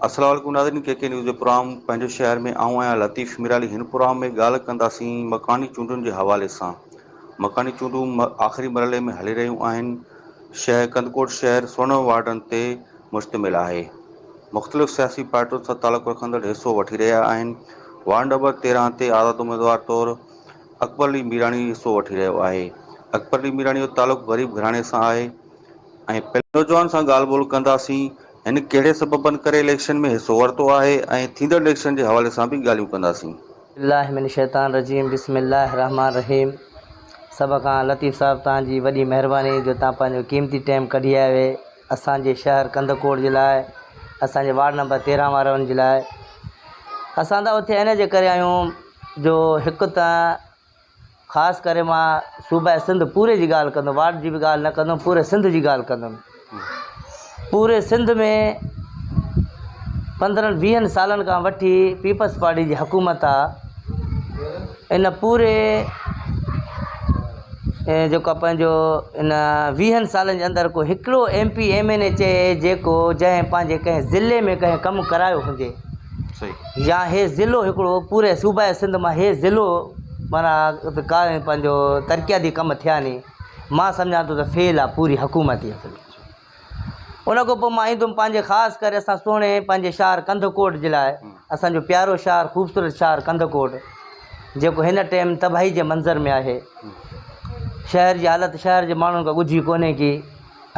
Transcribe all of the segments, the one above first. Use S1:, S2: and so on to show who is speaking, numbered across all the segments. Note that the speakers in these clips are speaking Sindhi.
S1: السلام عليڪم ناظرين ڪي ڪي نيوز جو پروگرام پنهنجو شهر ۾ آئون آهيان لطيف ميرالي هن پروگرام ۾ ڳالهه ڪنداسين مڪاني چونڊن جي حوالي سان مڪاني چونڊون آخري مرحلي ۾ هلي رهيون آهن شهر ڪنڌڪوٽ شهر سورنهن وارڊن تي مشتمل آهي مختلف سياسي پارٽين سان تعلق رکندڙ حصو وٺي رهيا آهن وارڊ نمبر تيرهن تي آزاد اميدوار طور اڪبر علي ميراڻي حصو وٺي رهيو آهي. اڪبر علي ميراڻي جو تعلق غريب گهراڻي سان آهي. ۽ پهرين نوجوان سان ڳالهه ٻولهه ڪنداسين. هن ڪهڙي سببن ڪري اليڪشن ۾ حصو ورتو آهي ۽ ٿيندڙ اليڪشن جي حوالي سان به ڳالهيون ڪنداسين. بالله من
S2: الشيطان الرجيم بسم الله الرحمٰن الرحيم سڀ کان لطيف صاحب توهان جي وڏي مهرباني جو توهان پنهنجو قيمتي ٽيم ڪڍي آيو اسان جي شهر ڪنڌڪوٽ جي لاء، اسان جي وارڊ نمبر تيرهن وارن جي لاء، اسان ته اتي ان جي ڪري آيون جو هڪ ته خاص ڪري مان صوبه سنڌ پوري جي ڳالهه ڪندم وارڊ جي به ڳالهه نه ڪندم پوري سنڌ جي ڳالهه ڪندم پوري سنڌ ۾ پندرهن ويهن سالن کان وٺي پيپلز پارٽي جي حڪومت آ ان پوري جيڪو پنهنجو ان ويهن سالن جي اندر ڪو هڪڙو M P M N A چئي جيڪو جنهن پنهنجي ڪنهن ضلعي ۾ ڪنهن ڪم ڪرايو هجي يا هي ضلعو هڪڙو پوري صوبا سنڌ مان هي ضلعو مانا ڪا پنهنجو ترقياتي ڪم ٿيا ني مان سمجهان ٿو ته فيل آ پوري حڪومت ان کان پوء مان ايندم پنهنجي خاص ڪري اسان سهڻي پنهنجي شهر ڪنڌڪوٽ جي لاء اسان جو پيارو شهر خوبصورت شهر ڪنڌڪوٽ جيڪو هن ٽيم تباهي جي منظر ۾ آهي شهر جي حالت شهر جي ماڻهن کان ڳجهي ڪونهي ڪي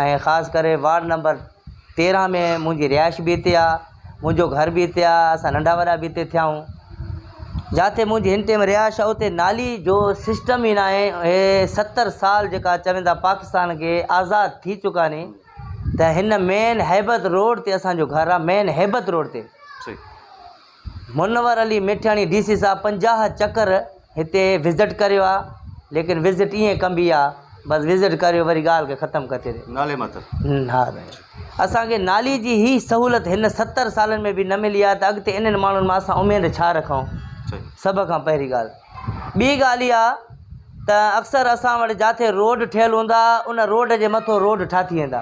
S2: ۽ خاص ڪري وارڊ نمبر تيرهن ۾ منهنجي رهائش به هتي آهي منهنجو گهر به هتي آ، اسان ننڍا وڏا به هتي ٿيائون. جاٿي منهنجي هن ٽيم رهائش آ اتي نالي جو سسٽم ئي ناهي. اهي ستر سال جيڪا چون ٿا پاڪستان کي آزاد ٿي چڪا ني ته هن مين هيبت روڊ تي اسان جو گهر آ مين هيبت روڊ تي منور علي ميٺياڻي ڊي سي صاحب پنجاهه چڪر هتي وزٽ ڪريو آ ليڪن وزٽ ايئن ڪبي آ بس وزٽ ڪريو وري ڳالهه کي ختم ڪري ڇڏيو نالي ماتر ها سائين اسانکي نالي جي هي سهولت هن ستر سالن ۾ به نه ملي آ ته اڳتي انهن ماڻهن مان اسان اميد ڇا رکون سڀ کان پهرين ڳالهه ٻي ڳالهه اها ته اڪثر اسان وٽ جاٿي روڊ ٺهيل هوندا ان روڊ جي مٿو روڊ ٺاٿي ويندا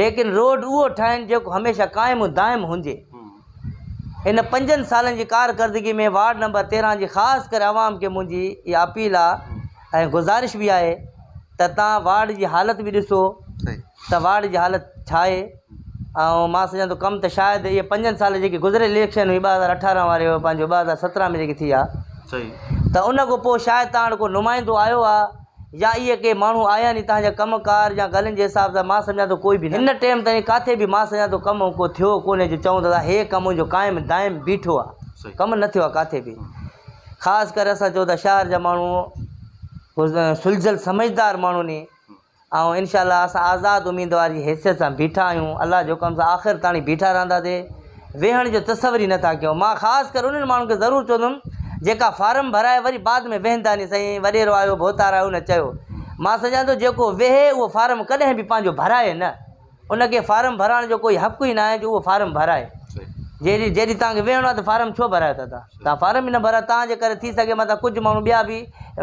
S2: ليڪن روڊ اهو ٺاهين جيڪو هميشه قائم و دائم هجي. هن پنجن سالن جي ڪارڪردگي ۾ وارڊ نمبر تيرهن جي خاص ڪري عوام کي منهنجي اها اپيل آ ۽ گذارش به آهي ته تان وارڊ جي حالت به ڏسو ته وارڊ جي حالت ڇا آهي ۽ مان سمجهان ٿو ڪم ته شايد اهي پنجن سالن جيڪي گذريل اليڪشن هئي ٻه هزار اٺارهن واري پنهنجو ٻه هزار سترهن ۾ جيڪي ٿي آ ته ان کان پوء شايد تان وٽ ڪو نمائندو آيو آ يا اهي ڪي ماڻهو آيا آهن اتان جا ڪم ڪار يا ڳالهين جي حساب سان مان سمجهان ٿو ڪوئي به هن ٽيم تائين ڪاٿي به مان سمجهان ٿو ڪم ڪو ٿيو ڪونهي جو چئون ٿا ته هي ڪم جو قائم دائم بيٺو آهي ڪم نه ٿيو آهي ڪاٿي به خاص ڪري اسان چئون ٿا شهر جا ماڻهو سلجهيل سمجهدار ماڻهو ني ۽ انشاء الله اسان آزاد اميدوار جي حيثيت سان بيٺا آهيون الله جي حڪم سان آخر تائين بيٺا رهنداسي ويهڻ جو تصور ئي نه ٿا ڪيون. مان خاص ڪري انهن ماڻهن کي ضرور چوندم جيڪا فارم ڀرائي وري بعد ۾ ويهن ٿا ني سائين وڏيرو آيو ڀوتار آيو ان چيو مان سمجهان ٿو جيڪو ويهي اهو فارم ڪڏهن به پنهنجو ڀرائي نه ان کي فارم ڀرائڻ جو ڪوئي حق ئي ناهي جو اهو فارم ڀرائي جيڏي جيڏي توهان کي ويهڻو آهي ته فارم ڇو ڀرايو ٿا تان توهان فارم ئي نه ڀرايو توهان جي ڪري ٿي سگهي متان ڪجهه ماڻهو ٻيا به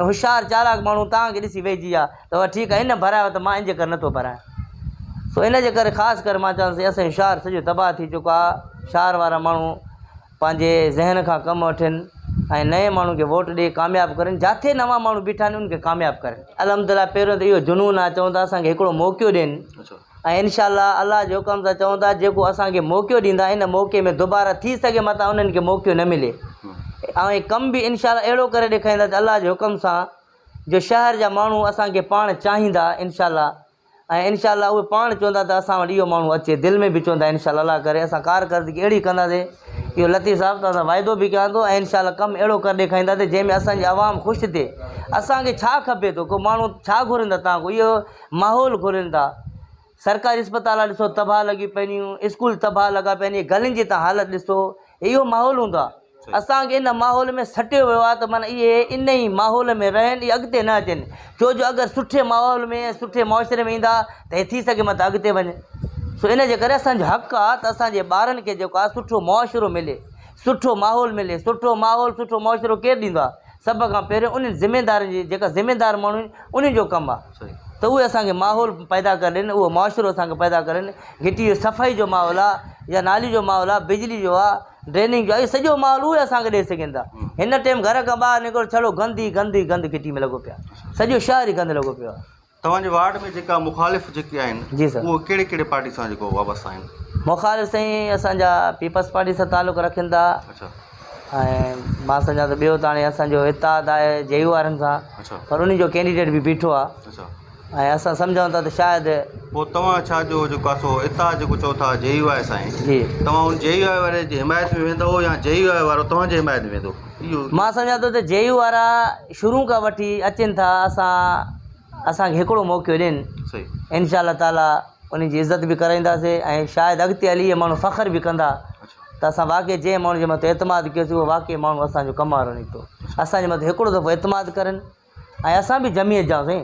S2: هوشيار چالاڪ ماڻهو توهان کي ڏسي ويهجي آ تو ٺيڪ آهين نه ڀرايو ته مان ان جي ڪري نه ٿو ڀرايان سو ان جي ڪري خاص ڪري مان چوان ٿو اسان جو شهر سڄو تباهه ٿي چڪو آهي شهر وارا ماڻهو پنهنجي ذهن کان ڪم وٺن ۽ نئين ماڻهو کي ووٽ ڏئي ڪامياب ڪرن جاٿي نوان ماڻهو بيٺا آهن ان کي ڪامياب ڪرن الحمد لله پهريون ته اهو جنون آهي چون ٿا اسان کي هڪڙو موقعو ڏين ۽ انشاء الله الله جي حڪم سان چون ٿا جيڪو اسان کي موقعو ڏيندا ان موقعي ۾ دوباره ٿي سگهي متان انهن کي موقعو نه ملي ۽ ڪم به انشاء الله اهڙو ڪري ڏيکاريندا الله جي حڪم سان جو شهر جا ماڻهو اسان کي پاڻ چاهيندا انشاء الله ۽ انشاء الله اهي پاڻ چوندا ته اسان وٽ اهو ماڻهو اچي دل ۾ به چوندا انشاء الله الله ڪري اسان ڪارڪردگي اهڙي ڪنداسي اهو لطيف صاحب توهان سان واعدو به ڪيان ٿو ۽ انشاء الله ڪم اهڙو ڪري ڏيکارينداسي جنهن ۾ اسان جي عوام خوش ٿئي اسان کي ڇا کپي ٿو ڪو ماڻهو ڇا گهرين ٿا تان اهو ماحول گهرين ٿا سرڪاري اسپتال ڏسو تباهه لڳي پيون اسڪول تباهه لڳا پيا آهن اهي گلين جي تان حالت ڏسو اهو ماحول هوندو آهي اسان کي ان ماحول ۾ سٽيو ويو آهي ته معنيٰ اهي ان ئي ماحول ۾ رهن اهي اڳتي نه اچن ڇو جو اگر سٺي ماحول ۾ ۽ سٺي معاشري ۾ ايندا ته اهي ٿي سگهي متان اڳتي وڃن سو ان جي ڪري اسان جو حق آهي ته اسان جي ٻارن کي جيڪو آهي سٺو معاشرو ملي سٺو ماحول ملي سٺو ماحول سٺو معاشرو ڪير ڏيندو آهي سڀ کان پهريون انهن ذميدارن جي جيڪا ذميدار ماڻهو آهن انهن جو ڪم آهي ته اهي اسان کي ماحول پيدا ڪري ڏين اهو معاشرو اسان کي پيدا ڪري ڏين گهٽي جو صفائي جو ماحول آهي يا نالي جو ماحول آهي بجلي جو آهي ڊريننگ جو اهي سڄو ماحول اهي اسان کي ڏئي سگهن ٿا هن ٽيم گهر کان ٻاهر نڪرو ڇڙو گند ئي گند ئي گند گهٽي ۾ لڳو پيو آهي سڄو شهر ئي گند لڳو پيو آهي. توهان جي وارڊ ۾
S1: جيڪا مخالف جيڪي آهن جي سر اهي ڪهڙي ڪهڙي
S2: پارٽي سان جيڪو
S1: وابستا آهن مخالف سائين
S2: اسان جا پيپلس پارٽي سان تعلق رکن ٿا اڇا ۽ مان سمجهان ٿو ٻيو ته هاڻي اسان جو اتحاد آهي جي يو وارن سان اڇا پر انهن جو ڪينڊيڊيٽ به بيٺو آهي اڇا ۽ اسان سمجهون ٿا ته شايد. پوء توهان ڇا
S1: جو جيڪو اسو اتحاد جيڪو چئو ٿا جي يو آء سائين جي. توهان ان جي
S2: يو آء
S1: واري جي حمايت ۾ ويندئو يا جي يو آء وارو توهان جي حمايت ۾ ويندو اهو. مان سمجهان ٿو ته جي
S2: يو وارا شروع کان وٺي اچن ٿا اسان اسان کي هڪڙو موقعو ڏين انشاء الله
S1: تعالي
S2: انهن جي عزت به ڪرائينداسي ۽ شايد اڳتي هلي اهي ماڻهو فخر به ڪندا ته اسان واقعي جنهن ماڻهو جي مٿان اعتماد ڪيوسي اهو واقعي ماڻهو اسان جو ڪم وارو نڪتو اسان جي مٿان هڪڙو دفعو اعتماد ڪرن ۽ اسان به جمعيت جا هئاسين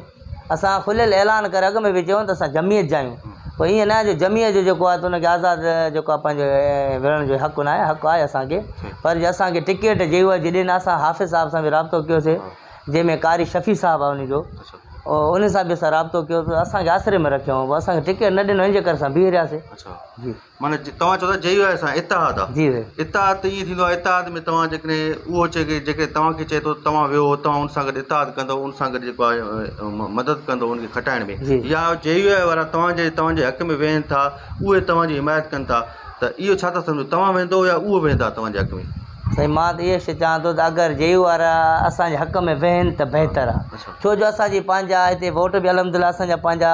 S2: اسان کليل اعلان ڪري اڳ ۾ به چيو ته اسان جمعيت جا آهيون پوء ايئن نه آهي جو جمعيت جو جيڪو آهي ته ان کي آزاد جيڪو آهي پنهنجو وڙهڻ جو حق ناهي حق آهي اسان کي پر جي اسان کي ٽڪيٽ جي هو جي ڏني اسان حافظ صاحب سان به رابطو ڪيوسي جنهن ۾ قاري شفيع صاحب آهي ان جو ان سان به اسان رابطو ڪيو ته اسان کي آسري ۾ رکيو هو اسان کي ٽڪيٽ نه ڏنو ان جي ڪري اسان بيهي رهياسي معنيٰ توهان چئو
S1: ٿا جي يو آء سان اتحاد آ جي سائين اتحاد ته ائين
S2: ٿيندو
S1: آ اتحاد ۾ توهان جيڪڏهن اهو چئي ڪي جيڪڏهن توهان کي چئي ٿو توهان ويهو توهان ان سان گڏ اتحاد ڪندو ان سان گڏ جيڪو آ مدد ڪندو ان کي کٽائڻ ۾ يا جي يو آء وارا توهان جي توهان جي حق ۾ ويهن ٿا اهي توهان جي حمايت ڪن ٿا ته اهو ڇا ٿا سمجهو توهان ويهندو يا اهو ويهندا توهان جي حق ۾ سائين مان ته اهو
S2: چوان ٿو ته اگر جي يو وارا اسان جي حق ۾ ويهن ته بهتر آ ڇو جو اسان جي پنهنجا هتي ووٽ به الحمد لله اسان جا پنهنجا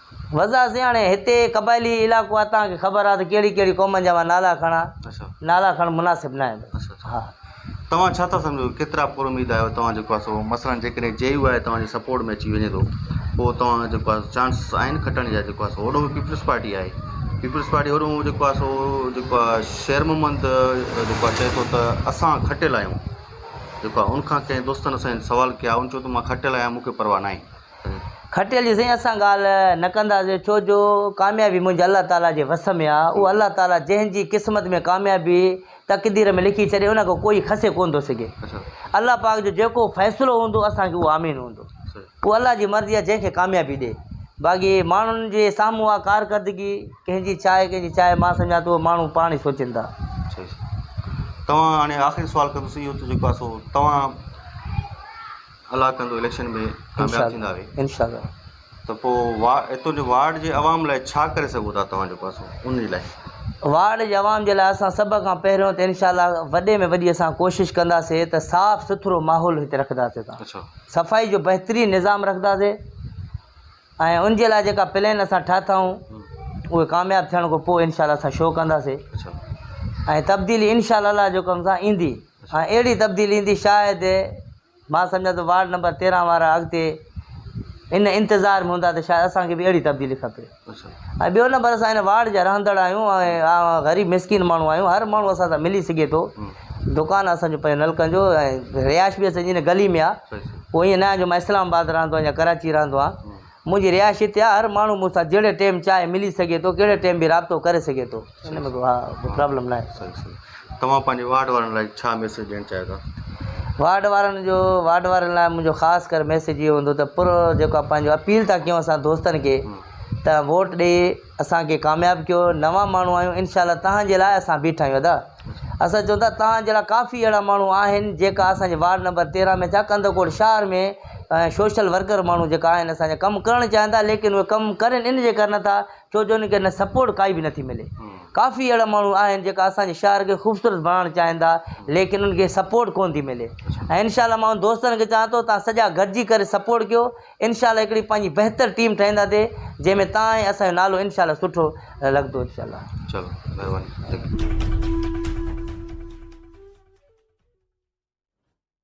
S1: وضع سين هاڻي هتي
S2: قبائلي علائقو آهي تهان کي خبر آهي ته ڪهڙي ڪهڙي قومن جا مان نالا کڻا نالا کڻڻ مناسب نه آهن ها. توهان ڇا ٿا
S1: سمجهو ڪيترا پر اميد آهيو توهان جيڪو آهي سو مثلا جيڪڏهن جي يو آء توهان جي سپورٽ ۾ اچي وڃي ٿو پوء توهان جيڪو آهي سو چانس آهن کٽڻ جا جيڪو آهي سو هوڏو به پيپلز پارٽي آهي پيپلز پارٽي هوڏو جيڪو آهي سو جيڪو آهي شير محمد جيڪو آهي چئي ٿو ته اسان کٽيل آهيون جيڪو آهي ان کان ڪنهن دوستن اسان سوال ڪيا ان چيو ته مان کٽيل آهيان مون کي پرواهه ناهي کٽيل چيو
S2: سائين اسان ڳالهه نه ڪنداسين ڇو جو ڪاميابي منهنجي الله تعاليٰ جي وس ۾ آهي اهو الله تعاليٰ جنهن جي قسمت ۾ ڪاميابي تقدير ۾ لکي ڇڏي ان کان ڪوئي کسي ڪونه ٿو سگهي الله پاڪ جو جيڪو فيصلو هوندو اسان کي اهو آمين هوندو اهو الله جي مرضي آهي جنهن کي ڪاميابي ڏي باقي ماڻهن جي سامهون اها ڪارڪردگي ڪنهن جي ڇا آهي ڪنهن جي ڇا آهي مان سمجهان ٿو ماڻهو پاڻ ئي سوچين ٿا
S1: توهان هاڻي آخري سوال ڪندس اهو ته جيڪو آهي سو توهان الله ڪندو اليڪشن ۾ ڪامياب ٿيندا اھي انشاء
S2: الله ته پوء
S1: اتو جي وارڊ جي عوام لاء ڇا ڪري سگهون ٿا توهان جو پاسو ان جي لاء. وارڊ جي
S2: عوام جي لاء اسان سڀ کان پهريون ته انشاء الله وڏي ۾ وڏي اسان ڪوشش ڪنداسي ته صاف سٿرو ماحول هتي رکنداسي اسان اڇا صفائي جو بهترين نظام رکنداسي ۽ ان جي لاء جيڪا پلين اسان ٺاهتائون اهي ڪامياب ٿيڻ کان پوء انشاء الله اسان شو ڪنداسي اڇا ۽ تبديلي انشاء الله جوڪم سان ايندي ۽ اهڙي تبديلي ايندي شايد مان سمجهان ٿو وارڊ نمبر تيرهن وارا اڳتي ان انتظار ۾ هوندا ته شايد اسان کي به اهڙي تبديلي کپي ۽ ٻيو نمبر اسان هن وارڊ جا رهندڙ آهيون ۽ غريب مسڪين ماڻهو آهيون هر ماڻهو اسان سان ملي سگهي ٿو دڪان اسان جو پنهنجو نلڪن جو ۽ رهائش به اسان جي هن گلي ۾ آهي پوء ائين نه آهي جو مان اسلام آباد رهندو آهيان يا ڪراچي رهندو آهيان منهنجي رهائشي تي آ، هر ماڻهو مون سان جهڙي ٽيم چاهي ملي سگهي ٿو، ڪهڙي ٽيم به رابطو ڪري سگهي ٿو، ان ۾ ڪو پرابلم ناهي. صحيح صحيح توهان پنهنجي
S1: وارڊ وارن لاء ڇا ميسيج ڏيڻ چاهيو ٿا؟ وارڊ وارن
S2: جو وارڊ وارن لاء منهنجو خاص ڪر ميسيج اهو هوندو ته پر جيڪو پنهنجو اپيل ٿا ڪيون اسان دوستن کي ته ووٽ ڏئي اسان کي ڪامياب ڪيو نوان ماڻهو آهيون انشاء الله توهان جي لاء اسان بيٺا آهيون ادا. اسان چون ٿا توهان جهڙا ڪافي اهڙا ماڻهو آهن جيڪا اسان جي وارڊ نمبر تيرهن ۾ ڇا ڪنڌڪوٽ شهر ۾ سوشل ورڪر ماڻهو جيڪا آهن اسان جا ڪم ڪرڻ چاهين ٿا ليڪن اهي ڪم ڪرين ان جي ڪري نه ٿا ڇو جو ان کي نه سپورٽ ڪائي به نٿي ملي ڪافي اهڙا ماڻهو آهن جيڪا اسان جي شهر کي خوبصورت بڻائڻ چاهين ٿا ليڪن ان کي سپورٽ ڪون ٿي ملي ۽ انشاء الله ماڻهو دوستن کي چاهان ٿو تان سڄا گڏجي ڪري سپورٽ ڪيو انشاء الله هڪڙي پنهنجي بهتر ٽيم ٺاهينداسي جنهن ۾ تان ۽ اسان جو نالو انشاء الله سٺو
S1: لڳندو
S2: انشاء الله چلو مهرباني ٿينڪ يو.